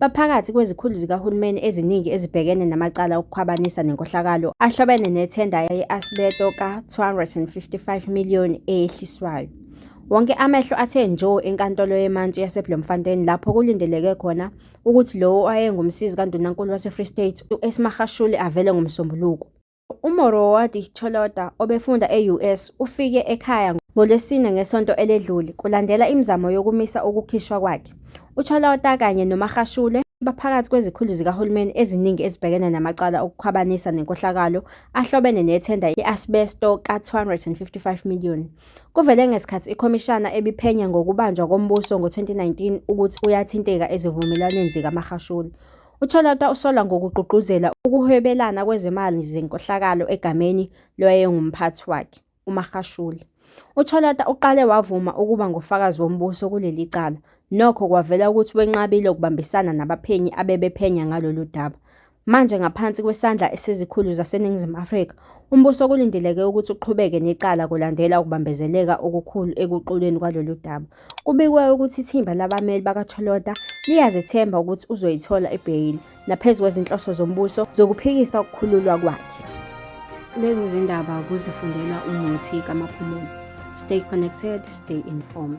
baphakathi kwezikhulu zikahulumeni eziningi ezibhekene namacala okukhwabanisa nenkohlakalo ahlobene nethenda ye-asbeto ka-255 million eyehliswayo wonke amehlo athe njo enkantolo yemantshi yaseblomfontein lapho kulindeleke khona ukuthi lowo owayengumsizi kandunankulu wasefree state uesmahashuli avele ngomsombuluko UMoroati Cholota obefunda e-US ufike ekhaya ngoLwesine ngesonto eledlule kulandela imizamo yokumisa ukukhishwa kwakhe. UCholota kanye noMagashule baphakathi kwezikhulu zikahulumeni eziningi ezibhekene namacala okukhwabanisa nenkohlakalo ahlobene nethenda i-asbesto ka-255 million. Kuvele ngesikhathi ikhomishana ebiphenya ngokubanjwa kombuso ngo-2019 ukuthi uyathinteka ezivumelwaneni zikaMagashule. UTholota usolwa ngokugqugquzela ukuhwebelana kwezimali zenkohlakalo egameni lowayengumphathi wakhe, uMagashule. UTholota uqale wavuma ukuba ngufakazi wombuso kuleli cala, nokho kwavela ukuthi wenqabile ukubambisana nabaphenyi abebephenya ngalolu daba. Manje ngaphansi kwesandla esizikhulu zaseNingizimu Afrika, umbuso kulindeleke ukuthi uqhubeke necala kulandela ukubambezeleka okukhulu ekuqulweni kwalolu daba. Kubikwa ukuthi ithimba labameli bakaTsholota liyazethemba ukuthi uzoyithola ibheyili naphezu kwezinhloso zombuso zokuphikisa ukukhululwa kwakhe. Lezi zindaba kuzifundelwa umuthi kamaphumulo. Stay connected, stay informed.